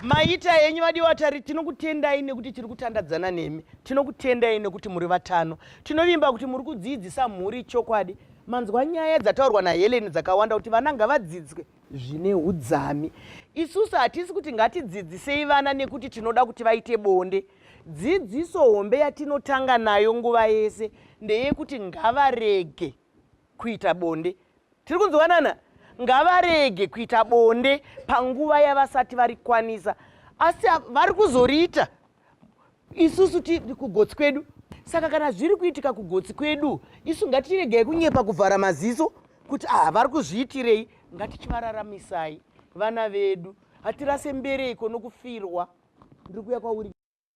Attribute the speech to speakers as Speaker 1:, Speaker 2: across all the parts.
Speaker 1: maita henyu vadiwatari tinokutendai nekuti tiri kutandadzana nemi tinokutendai nekuti muri vatano tinovimba kuti muri kudziidzisa mhuri chokwadi manzwa nyaya dzataurwa nahelen dzakawanda kuti vana ngavadzidzwe zvine udzami isusu hatisi kuti ngatidzidzisei vana nekuti tinoda kuti vaite bonde dzidziso hombe yatinotanga nayo nguva yese ndeyekuti ngavarege kuita bonde tiri kunzwanana ngavarege kuita bonde panguva yavasati varikwanisa asi vari kuzoriita isusu tiri kugotsi kwedu saka kana zviri kuitika kugotsi kwedu isu ngatiregei kunyepa kuvhara maziso kuti aha vari kuzviitirei ngatichivararamisai vana vedu hatirase mbereiko nokufirwa ndiri kuya kwauri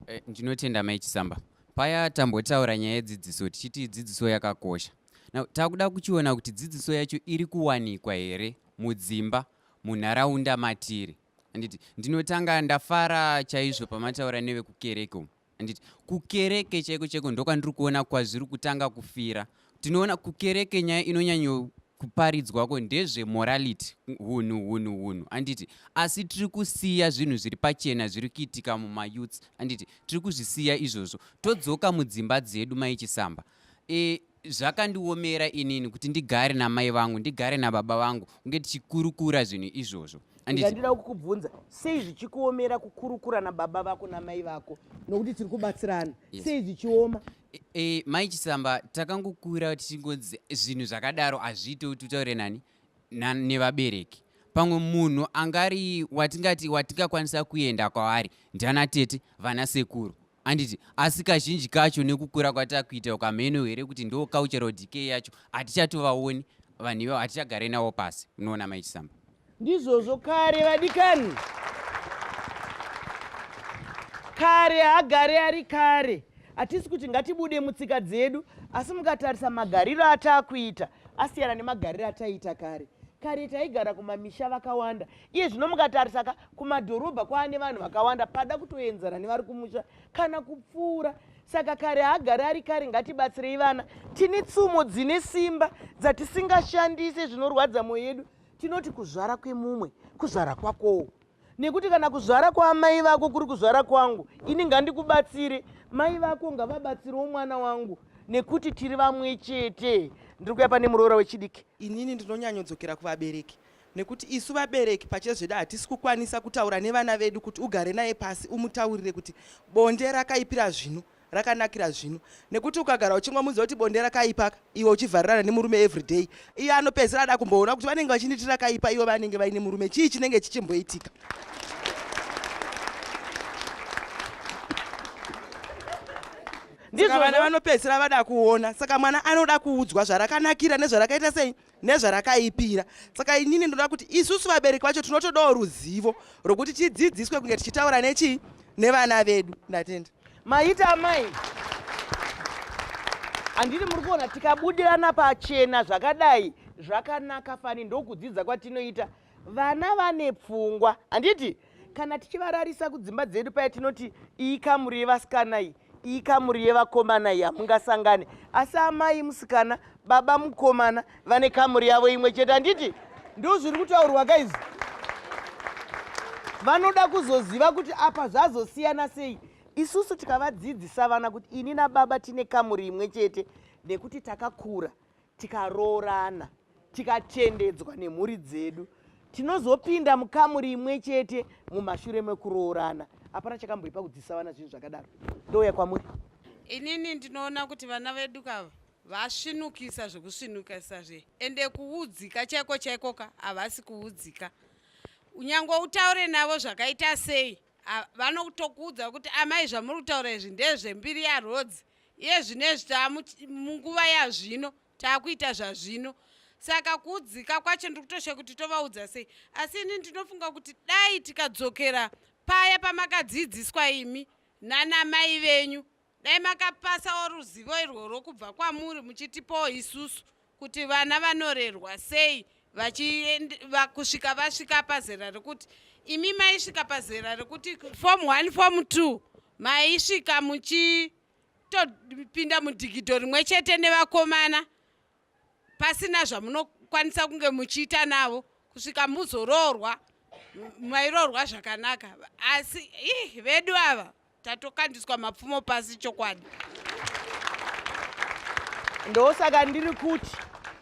Speaker 1: eh, ndinotenda
Speaker 2: mai chisamba paya tambotaura nyaya yedzidziso tichiti dzidziso yakakosha now takuda kuchiona kuti dzidziso yacho iri kuwanikwa here mudzimba munharaunda matiri handiti ndinotanga ndafara chaizvo pamataura nevekukereke umu handiti kukereke chaiko chaiko ndokwandiri kuona kwazviri kutanga kufira tinoona kukereke nyaya inonyanyo kuparidzwako ndezvemorality hunhu hunhu hunhu anditi asi tiri kusiya zvinhu zviri pachena zviri kuitika mumayouths anditi tiri kuzvisiya izvozvo todzoka mudzimba dzedu maichisamba e, zvakandiomera inini kuti ndigare namai vangu ndigare nababa vangu kunge tichikurukura zvinhu izvozvo ndandida kukubvunza
Speaker 1: sei zvichikuomera kukurukura nababa vako namai vako nokuti tiri kubatsirana sei zvichioma e, e, mai
Speaker 2: chisamba takangokura tichingonzi zvinhu zvakadaro hazviite kuti utaure nani nevabereki pamwe munhu angari watingati watingakwanisa kuenda kwaari ndiana tete vana sekuru handiti asi kazhinji kacho nekukura kwatakuita uko hameno here kuti ndo cultural decay yacho hatichatovaoni vanhu ivavo hatichagare navo pasi unoona mai chisamba ndizvozvo
Speaker 1: kare vadikani kare haagare ari kare hatisi kuti ngatibude mutsika dzedu asi mukatarisa magariro ataakuita asiyana nemagariro ataiita kare kare taigara kumamisha vakawanda iye zvino mukatarisa ka kumadhorobha kwaane vanhu vakawanda pada kutoenzana nevari kumusha kana kupfuura saka kare haagari ari kare ngatibatsirei vana tine tsumo dzine simba dzatisingashandise zvinorwadza mwoyo yedu tinoti kuzvara kwemumwe kuzvara kwakowo nekuti kana kuzvara kwaamai vako kuri kuzvara kwangu ini ngandikubatsire mai vako ngavabatsirewo mwana wangu nekuti tiri vamwe chete ndiri kuya pane muroora wechidiki inini ndinonyanyodzokera
Speaker 3: kuvabereki nekuti isu vabereki pachezvedu hatisi kukwanisa kutaura nevana vedu kuti ugare naye pasi umutaurire kuti bonde rakaipira zvino rakanakira zvino nekuti ukagara uchingomuudza kuti bonde rakaipa iwe uchivharirana nemurume everyday iye anopedzisira ada kumboona kuti vanenge vachinditi rakaipa iwe vanenge vaine murume chii chinenge chichimboitika ndizvo vana vanopedzisira vada kuona saka mwana anoda kuudzwa zvarakanakira nezvarakaita sei nezvarakaipira saka inini ndinoda kuti isusu vabereki vacho tinotodawo ruzivo rwokuti tidzidziswe kunge tichitaura nechii nevana vedu ndatenda maita amai
Speaker 1: handiti muri kuona tikabudirana pachena zvakadai zvakanaka fani ndokudzidza kwatinoita vana vane pfungwa handiti kana tichivararisa kudzimba dzedu paya tinoti iyi kamuri yevasikana iyi iyi kamuri yevakomana iyi hamungasangane asi amai musikana baba mukomana vane kamuri yavo imwe chete handiti ndo zviri kutaurwa ka izvi vanoda kuzoziva kuti apa zvazosiyana sei isusu tikavadzidzisa vana kuti ini nababa tine kamuri imwe chete nekuti takakura tikaroorana tikatendedzwa nemhuri dzedu tinozopinda mukamuri imwe chete mumashure mekuroorana hapana chakamboipa kudzisa vana zvinhu zvakadaro ndouya kwamuri inini
Speaker 4: ndinoona kuti vana vedu kava vasvinukisa zvekusvinukisa zve ende kuudzika chaiko chaikoka havasi kuudzika unyange utaure navo zvakaita sei vanotokuudza kuti amai zvamuri kutaura izvi ndezvembiri yarodzi iye zvinezvi taamunguva yazvino taakuita zvazvino saka kuudzika kwacho ndiri kutoshe kuti tovaudza sei asi ini ndinofunga kuti dai tikadzokera paya pamakadzidziswa imi nanamai venyu dai makapasawo ruzivo irworwo kubva kwamuri muchitipawo isusu kuti vana vanorerwa sei kusvika vasvika pazera rekuti imi maisvika pazera rekuti form one form two maisvika muchitopinda mudhigidho rimwe chete nevakomana pasina zvamunokwanisa kunge muchiita navo kusvika muzoroorwa mairoorwa zvakanaka asi ih vedu ava Tatokandiswa mapfumo pasi chokwadi.
Speaker 1: Ndosaka ndiri kuti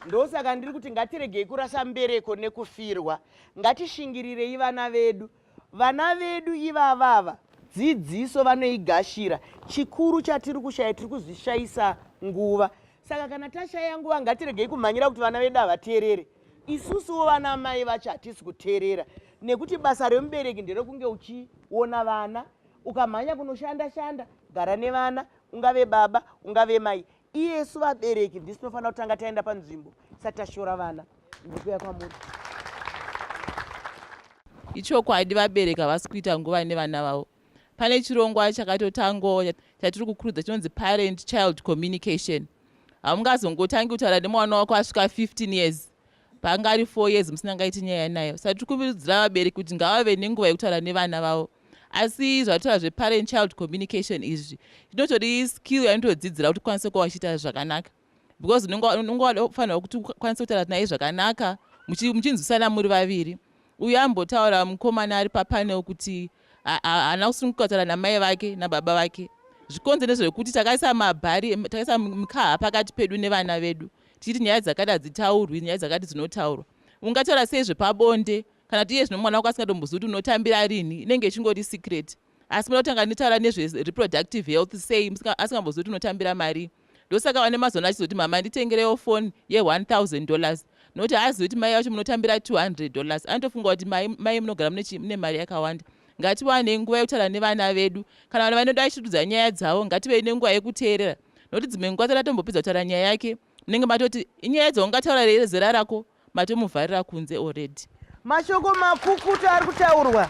Speaker 1: ndosaka ndiri kuti ngatiregei kurasa mbereko nekufirwa ngatishingirirei vana vedu vana vedu ivavava dzidziso vanoigashira chikuru chatiri kushaya tiri kuzvishayisa nguva saka kana tashaya nguva ngatiregei kumhanyira kuti vana vedu havateerere isusuwo vana mai vacho hatisi kuteerera nekuti basa remubereki nderekunge uchiona vana ukamhanya kunoshanda shanda gara nevana ungave baba ungave mai iyesu vabereki ndisu tinofanira kutanga taenda panzvimbo isati tashora vana ndikuya kwamuri
Speaker 5: ichokwadi vabereki havasi kuita nguva nevana vavo pane chirongwa chakatotangawo chatiri kukurudza chinonzi parent child communication haungazongotangi kutaura nemwana wako asvika 15 years paanga ari four years musinangaiti nyaya nayo saka tiri kuvirudzira vabereki kuti ngavave nenguva yekutaura nevana vavo asi zvatoa zveparent child communication izvi inotori skill yainotodzidzira kuti ukwanise kuva uchiita zvakanaka because unonge wafanirwa kuti ukwanise kutaura naye zvakanaka muchinzwisana muri vaviri Uyu aimbotaura mukomana ari papanel kuti haana kusunguka kutaura namai vake nababa vake zvikonze nezvekuti takaisa mabhari takaisa mikaha pakati pedu nevana vedu tichiti nyaya dzakati hadzitaurwi nyaya dzakati dzinotaurwa ungataura sei zvepabonde kana kuti iye zvino mwana wako asingatombozivi kuti unotambira rini inenge ichingori secret asi muda kutanga nitaura nezvereproductive health sei asingambozivi kuti unotambira marii ndosaka vane mazona achizoti mama nditengerewo foni ye1000 dollars nokuti haazivi kuti mai vacho munotambira 200 dollars anotofunga kuti mai munogara mune mari yakawanda ngatiwane nguva yekutaura nevana vedu kana vana vanoda vachitidudza nyaya dzavo ngativei nenguva yekuteerera nokuti dzimwe nguva tsati atombopedza kutaura nyaya yake munenge matoti inyaya dzaungataura rei zera rako matomuvharira kunze already mashoko
Speaker 1: makukuta ari kutaurwa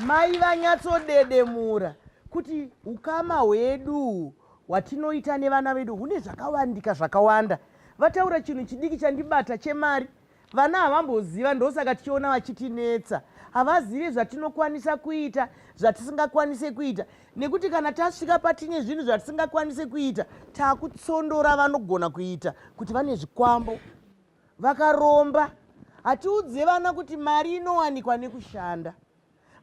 Speaker 1: mai vanyatsodedemura kuti ukama hwedu hwatinoita nevana vedu hune zvakawandika zvakawanda vataura chinhu chidiki chandibata chemari Vana havamboziva ndosaka tichiona vachitinetsa. Havazive zvatinokwanisa kuita, zvatisingakwanise kuita nekuti kana tasvika patine zvinhu zvatisingakwanise kuita takutsondora vanogona kuita kuti vane zvikwambo vakaromba. Hatiudze vana kuti mari inowanikwa nekushanda.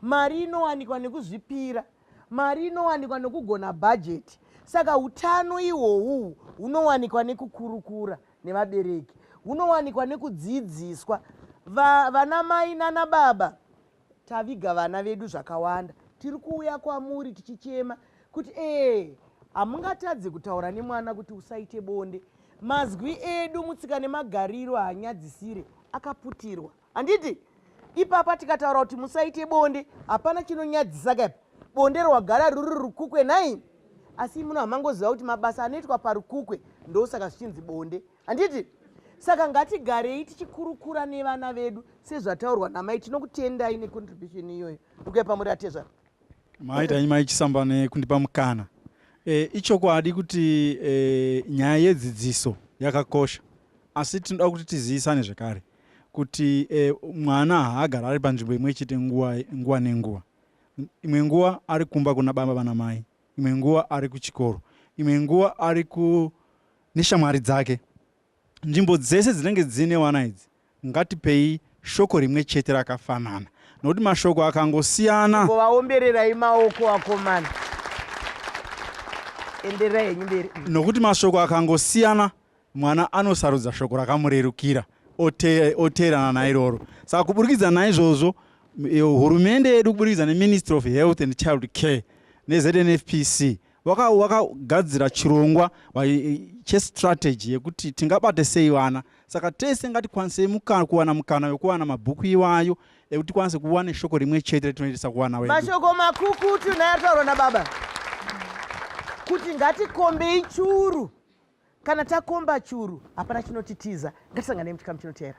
Speaker 1: mari inowanikwa nekuzvipira mari inowanikwa nokugona bhajeti saka utano ihwohwu hunowanikwa nekukurukura nevabereki hunowanikwa nekudzidziswa vana mai nana baba taviga vana vedu zvakawanda tiri kuuya kwamuri tichichema kuti ee hamungatadze kutaura nemwana kuti usaite bonde mazwi edu mutsika nemagariro hanyadzisire akaputirwa handiti ipapa tikataura kuti musaite bonde hapana chinonyadzisa kaipa bonde rwagara ruri rukukwe nai asi muno hamangoziva kuti mabasa anoitwa parukukwe ndosaka zvichinzi bonde handiti saka ngatigarei tichikurukura nevana vedu sezvataurwa namai tinokutendai necontribution iyoyo ndikuya pamuri atezvara Maita nyima
Speaker 6: ichisamba nekundipa mukana. E, ichokwadi kuti e, nyaya yedzidziso yakakosha asi tinoda kuti tizivisane zvekare kuti e, mwana haagara ari panzvimbo imwe chete nguva, nguva nenguva. Imwe nguva ari kumba kuna baba vana mai, imwe nguva ari kuchikoro, imwe nguva ari ku neshamwari dzake Nzvimbo dzese dzinenge dzine wana idzi ngatipei shoko rimwe chete rakafanana nokuti mashoko akangosiyana. Vaombererai
Speaker 1: maoko vakomana. Enderai henyu mberi. Nokuti mashoko
Speaker 6: akangosiyana mwana anosarudza shoko rakamurerukira oteerana nairoro. Saka kuburikidza naizvozvo hurumende yedu kuburikidza neministry of health and child care neznfpc wakagadzira waka chirongwa chestrategy yekuti tingabate sei vana saka tese ngatikwanisei mukana kuwana mukana wekuwana mabhuku iwayo ekuti tikwanise kuva neshoko rimwe chete retinoendesa kuwana wedu mashoko makukutu
Speaker 1: naye ataurwa nababa kuti ngatikombei churu kana takomba churu hapana chinotitiza ngatisanganei muchikamu chinoteera